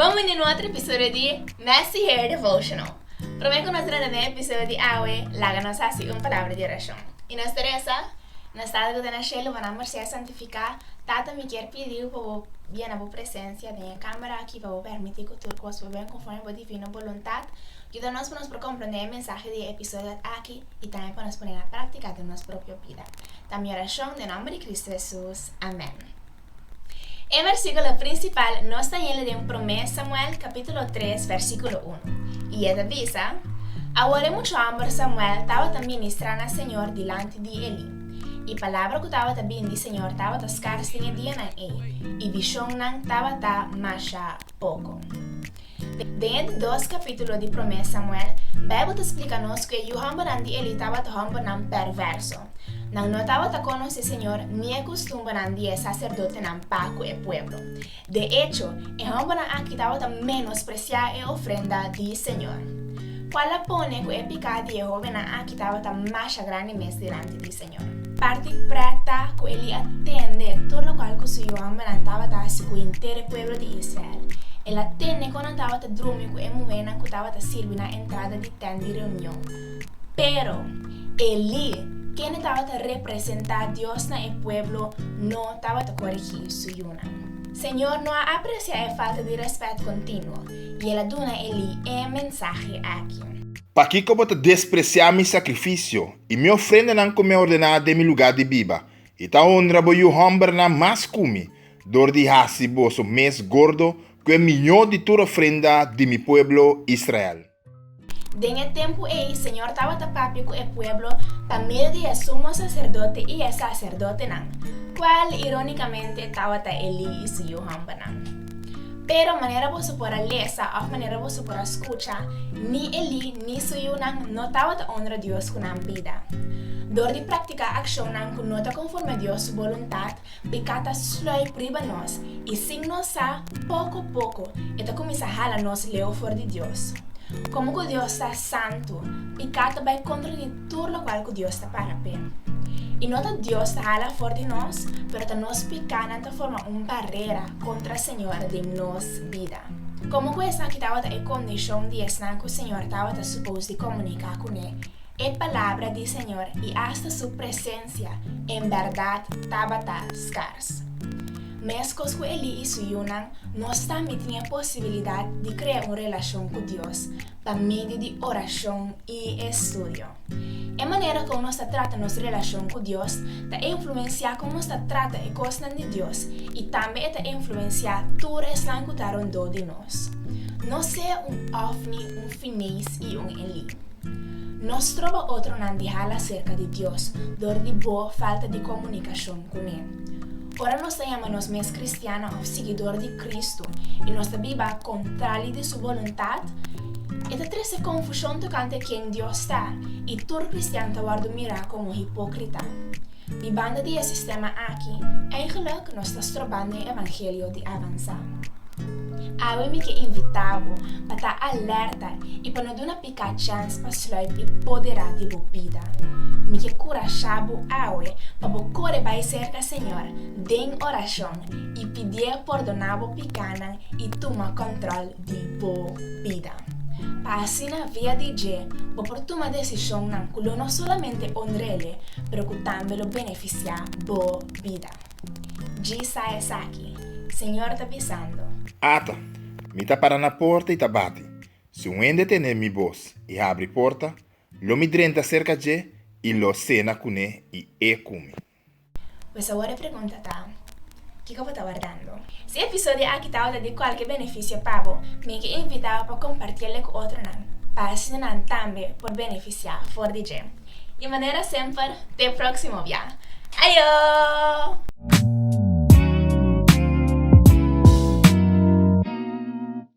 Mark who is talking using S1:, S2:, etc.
S1: Bon bini na otro episodio di Messy Hair Devotional. Prome ku nos rende den episodio di awe, laga nos hasi un palabra di orashon. I nos ta resa, Nos Tata ku ta na shelu, bo na por ser santifiká. Tata, mi kier pidi bo pa bo yena bo presensia den e kámara aki, pa bo permití ku tur kos por bini konformi bo divino boluntat. Yuda nos pa nos por komprendé e mensahe di e episodio aki i tambe pa nos pon'é na práktika den nos propio bida. Ta mi orashon den nòmber di Kristu Hesus. Amèn. E versíkulo prinsipal nos ta hende den Promé Samuel kapítulo tres versíkulo unu, i e ta bisa, Awor e muchu hòmber Samuel tabata ministrá na Señor dilanti di Elí, i palabra ku tabata bini di Señor tabata skars den e dianan ei, i vishonnan tabata masha poko. Den e dos kapítulo di Promé Samuel, Beibel ta splika nos ku e yu hòmbernan di Elí tabata hòmbernan pèrvèrso. Nan no tabata konos e Señor ni e kustumbernan di e saserdotenan pa ku e pueblo. De echo, e hòmbernan akí tabata menospresiá e ofrenda di Señor. Kual a pone ku e piká di e hóbennan akí tabata masha grandi mes dilanti di Señor? Parti prèkta ku Elí a tende tur lokual ku su yuanbanan tabata hasi ku henter e pueblo di Israel. El a tende kon nan tabata drumi ku e muhénan ku tabata sirbi na entrada di tènt di reunion. Pero, Elí, kende tabata representá Dios na e pueblo, no tabata korigí su yunan. Señor no a apresiá e falta di rèspèt kontinuo i el a duna Elí e mensahe aki. Pakiko bo ta
S2: despresiá mi sakrifisio i mi ofrendanan ku mi a ordená den mi lugá di biba, i ta honra bo yu hòmbernan mas ku mi, dor di hasi boso mes gordo ku e mihó di tur ofrenda di mi pueblo Israel. Den
S1: e tempu ei, Señor tabata papia ku e pueblo pa medio di e sumo saserdote i e saserdotenan, kual irónikamente tabata Elí i su yu hòmbernan. Pero manera boso por a lesa òf manera boso por a skucha, ni Elí ni su yunan no tabata onra Dios ku nan bida. Dor di praktiká akshonnan ku no ta konforme Dios su boluntat, peká ta slòi priba nos i sin nos sa, poko poko e ta kuminsá hala nos leu for di Dios. Komo ku Dios ta santu, peká ta bai kontra di. tur lokual ku Dios ta para p'e. I no ta Dios ta hala for di nos, pero ta nos pikánan ta forma un barera kontra Señor den nos bida. Komo ku esaki tabata e kondishon di esnan ku Señor tabata supos di komuniká kuné, e palabra di Señor i asta Su presensia en bèrdat tabata skars. Meskos ku Elí i su yunan, nos tambe tin e posibilidat di krea un relashon ku Dios, pa medio di orashon i estudio. E manera kon nos ta trata nos relashon ku Dios ta influensiá kon nos ta trata e kosnan di Dios i tambe e ta influensiá tur esnan ku ta rondó di nos. No sea un Ofni, un Finees i un Elí. No stroba otronan di hala serka di Dios dor di bo falta di komunikashon kuné. Ora nos ta yama nos mes kristiannan òf siguidor di Kristu i nos ta biba kontrali di su boluntat, e ta trese konfushon tokante ken Dios ta i tur kristian ta wòrdu mirá komo hipókrita. Di banda di e sistema akí, eingelik nos ta strobando e evangelio di avansá. Awe mi ke invitá bo pa ta alerta i pa no duna. Ka chans pa sluip e poderá di bo bida. Mi ke kurashá bo awe pa bo kore bai serka Señor den orashon i pidié pordoná bo pikánan i tuma kòntròl di bo bida. Pa asina via di dje bo por tuma desishonnan ku lo no solamente onr'Ele, pero ku tambe lo benefisiá bo bida. Dji sa esaki, Señor ta bisando. Ata,
S2: mi ta para na porta i ta bati. Si un hende tene mi bos i habri porta, lo mi drenta serka dje i lo sena kuné i e kumi. Pues
S1: awor e pregunta ta, Kiko bo ta wardando? Si e episodio aki ta wòrdu di kualke benefisio pa bo, mi ke invitá bo pa kompartí el ku otronan, pa asina nan tambe por benefisiá for di dje. I manera semper, te próksimo bia! Ayo!